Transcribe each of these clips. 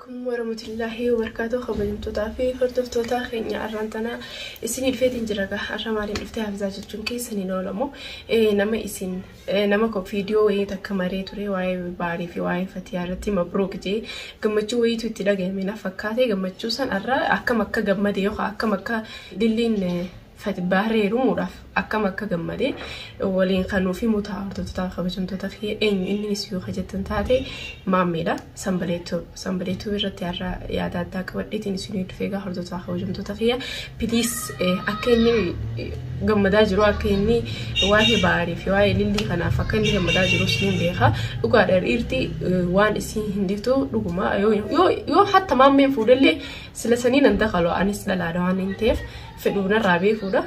Aleykum warahmatullahi wabarkatuh kabajamtotaa fi hordoftotaa kenyaa arraan tanaa isinii dhufeetiin jira gaa arra maaliin dhuftee hafizaa jechuun keessan hin oolamu Eh, nama isin eh, nama ko viidiyoo wayii takka maree ture waa'ee baarii fi waa'ee fatiyaa irratti mabruuk jee gammachuu wayiitu itti dhagahame na fakkaate gammachuu san arra akkam akka gammade yookaan akkam akka dilliin eh, Fatbah reerumuudhaaf akkam akka gammade waliin kan nuuf himu ta'a hordoftoota kabajamtoota kiyya eenyu innis yoo hajjattan taate maammeedha sanbaleetu sanbaleetu irratti har'a yaada addaa qabadheetiin isin dhufee egaa hordoftoota kabajamtoota kiyya piliis akka inni gammadaa jiru akka inni waa'ee baarii fi waa'ee lillii kanaaf akka inni gammadaa jiru siin beeka dhugaadha dhiirti waan isiin hin diftu dhuguma yoo yoo hatta maammeen fuudhellee Sila sanii nan dakalu anis dhalaadha waan hin ta'eef fedhuu narraa beekuudha.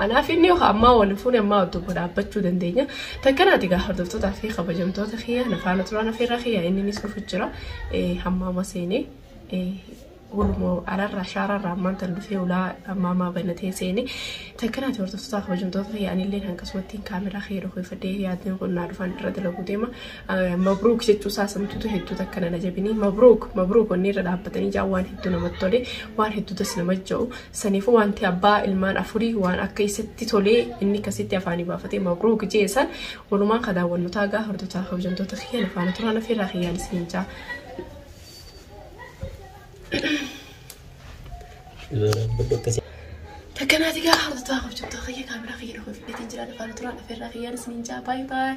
Anaaf inni yookaan ammaa waliin fuune ammaa wajjin tokko dhaabbachuu dandeenya. Takkanaati gaa hordoftootaa fi kabajamtoota kiyya na faana turaan ofirra kiyya inninis dhufu jira. Hammaama seenee gurmoo alarraa shaararraa ammaan tan dhufee ulaa ammaamaa banatee seenee takkanaati hordoftootaa kabajamtoota kiyya anillee akkasumatti kaameraa kiyya dhokeeffadhee yaadni kun naa dhufan irra dalaguu deema. Mabruuk jechuu isaa samtuutu hedduu takka nana jabinii mabruuk mabruuk wanni irra dhaabbatanii jaa waan hedduu namatti tole waan hedduutas nama ja'u saniifuu wanti abbaa ilmaan afurii waan akka isatti tolee inni akkasitti afaanii baafatee mabruuk jee san walumaan ka daawwannu taagaa hordotaa kabajamtoota kiyya nafaana turaan ofirraa kiyyaan isiniin jaa. Takkanaati gaa hordotaa kabajamtoota kiyya kaameraa kiyya dhufa fidheetiin jira nafaana turaan ofirraa kiyyaan isiniin jaa baay'ee baay'ee.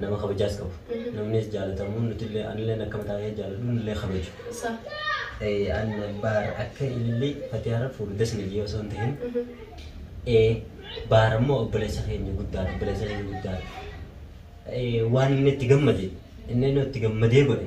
Nama kabajaas qabu. Namnis jaalatamuun nutillee anilleen akka mataa kee jaaladhu nillee kabaju. Sa. Eh, An baar akka ilillii fatiyaara fuudhu das na jee osoo hin tahin. Eh, Baar ammoo obboleessa keenya guddaadha. Obboleessa keenya guddaadha. Eh, Waan inni itti gammade inni inni itti gammadee godhe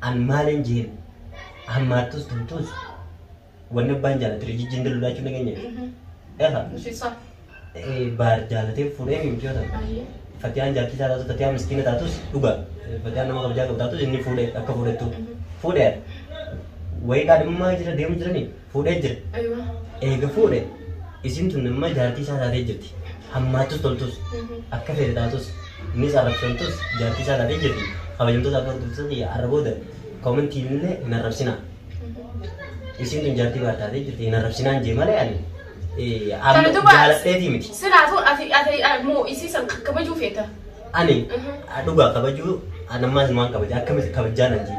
An maalin jeen hammaattus tumtuus wanni abbaan jaalate rijijjiin dalulaa jechuun nageenya jechuudha. Efa Nusisaa. baar jaalatee fuudhee miti yoo ta'u. Ayyee. Fatiyaan jaartii isaa taatu Fatiyaan miskiina taatus dhugaa Fatiyaan nama kabajaa qabu taatus inni fuudhe akka fuudhettu fuudhe wayii kaadhimmaa jira deemu jiranii fuudhee jira. Aywa. Eega fuudhe isiin tun amma jaartii isaa taatee jirti. Hammaattus toltus akka feete taatus innis arrabsamtus jaartii isaa taatee jirti. Kabajamtoota fi hordoftoota kiyya arra booda koomentiin illee hin arrabsinaa. Isiin tun jaartii baar taatee jirti hin arrabsinaan jee malee ani eh, amma Kana duba jaaladheetii miti. silaatu ati ati moo isii san kakkabajuu feeta. Ani Mhm. dhugaa kabajuu anammaas waan kabaja akkamitti kabajaan anjii.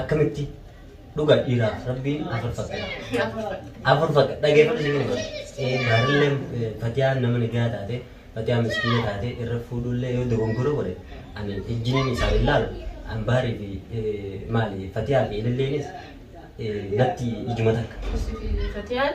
akkamitti dhugaa dhiiraa rabbiin afur fakkata afur fakka dhageeffadhu si gina gaariillee fatiyaan nama nagaa taate fatiyaan miskiina taate irra fuudhullee yoo dogongora godhe ani ijjiniin isaa ilaalu ambaarii fi maali fatiyaa fi ililleenis natti ijuma takka. Fatiyaan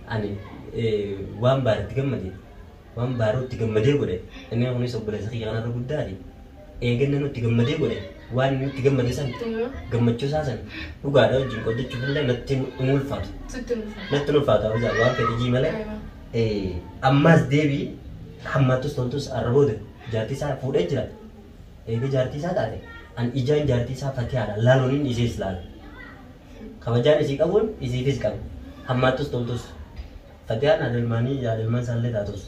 Ani waan baare itti gammade, waan baaruu itti gammadee godhe, inni kunis obboleessa kiyya kanarra guddaati. Eeganna nu itti gammadee godhe, waan inni itti gammade san, gammachuu isaa san, dhugaadha wajjin qoddachuuf illee natti hin ulfaatu. Natti hin ulfaatu abizaa waan fedhe jii malee. Ammaas deebii hammaattus toltus arra booda jaartii isaa fuudhee jira. Eega jaartii isaa taate, an ijaan jaartii isaa fatiyaadha laaluun inni ishees laala. Kabajaan isii qabuun isiifis qaba. Hammaattus toltus. Fatiyaan haadha ilmaanii yaada ilmaan isaallee taatus.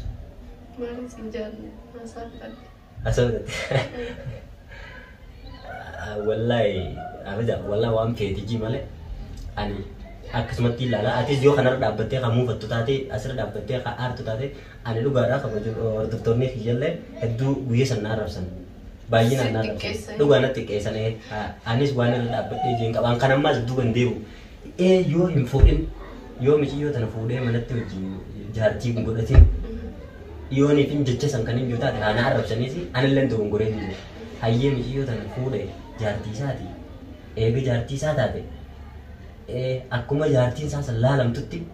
Maaliin siin jaalle haasaa fixadhe. Haasaa fixadhe. Wallaahi abaja wallaahi waan feetijii malee ani akkasumatti ilaala. Atis yoo kanarra dhaabbattee kan muufattu taate asirra dhaabbattee kan aartu taate ani dhugaadhaa kabajuun hordoftoonni kiyyallee hedduu guyyaa sana arrabsan. Baay'inaan naan rakkate. Dhugaa natti xiqqeessan ee. Anis waan irra dhaabbadhee jeen qaba. An kan ammaas duuba hin deebi'u. Ee yoo hin fuudhin yoo miciyyoo tana fuudhee manatti wajjin jaartii hin godhatin yooniif hin jecha san kan hin jiru taate haana arrabsaniis anillee hin dogongoree hin jiru. Hayyee miciyyoo tana fuudhe jaartii isaati. Eega jaartii isaa taate ee akkuma jaartiin isaa san laalamtutti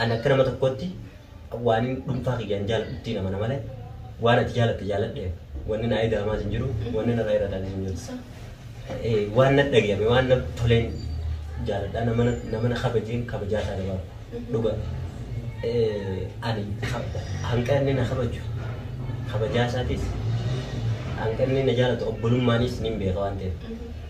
Ani akka nama tokkootti waanin dhuunfaa kiyyaan jaaladhuttiin amana malee waan ati jaalatte jaaladheef wanni na eegamaas hin jiru wanni narra hir'atanis hin jiru. Eh, Waan na dhagayame waan na toleen jaaladhaa nama na- nama na kabajeen kabajaa isaa dabalu dhuga. Eh, Ani kab- hanga inni na kabaju kabajaa isaatis hanga inni na jaalatu obbolummaanis niin beeka waan ta'eef.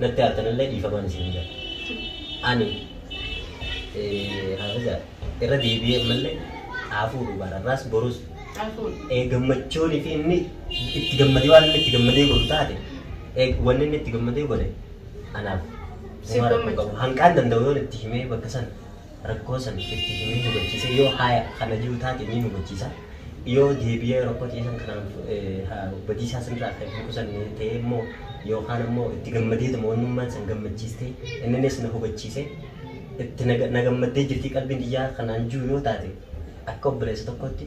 natti aartanillee dhiifamaan isin jira. Ani haafiza irra deebi'ee malee xaafuu dubaararraas borus gammachuun fi inni itti gammadee waan inni itti gammadee godhu taate wanni inni itti gammadee godhe anaaf hanqaan danda'u yoo itti himee bakka sana rakkoo san itti himee hubachiisee yoo haya kana jiru taate ni hubachiisa yoo deebi'ee rakkoo ta'e san kanaan fu- eh, ha- badiisaa sanirraa kan hin qusanne ta'e immoo yookaan ammoo itti gammadeetuma wannummaan san gammachiistee inninis na hubachiise itti na ga- na gammaddee jirti qalbiin tiyyaa kanaan jiru yoo taate akka obboleessa tokkootti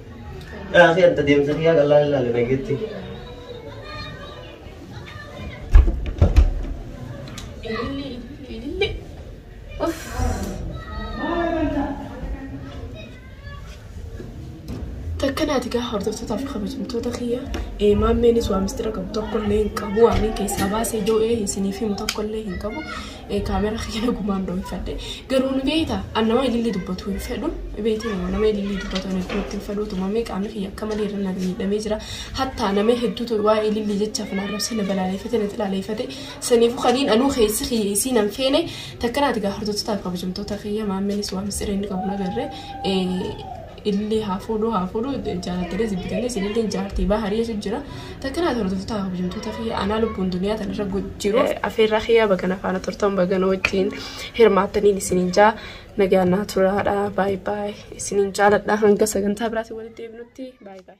Raafii adda deemsa kiyyaa qal'aa hin laalle nageetti. Takka naati gaa hordoftootaa fi kabajamtoota kiyya eemaan meenis waa mistira qabu tokkollee hin qabu waan keessaa baasee doo'ee isiniif himu tokkollee hin qabu Kaamera kee nagumaan doonfadhe. Garuu ni beekta an nama ililli dubbatu hin fedhu. Beekte nama nama ililli dubbatu ani duratti hin fedhu. Tumamee qaamni kiyya akka malee irra na miidhamee jira. Hattaa nama hedduutu waa'ee ililli jecha afaan arrabsee na balaaleeffate na xilaaleeffate. Saniifuu kaniin anuu keessi kiyya isiin an feene takkanaati gaa hordoftoota kabajamtoota kiyya maammenis waan misireen qabu nagarre. illee haa fuudhuu haa fuudhuu jaalattelee jibbitelee isinillee jaartii baa hariyeesu jira takkanaa hordoftoota hojjamtoota fi anaa lubbuun duniyaa tanarra jiru afeerraa kiyyaa baga nafaana turtan baga na wajjin hirmaattaniin isiniin jaa nagaan naa turaadha baay baay isiniin jaaladha hanga sagantaa biraatiin walitti deebinutti baay baay.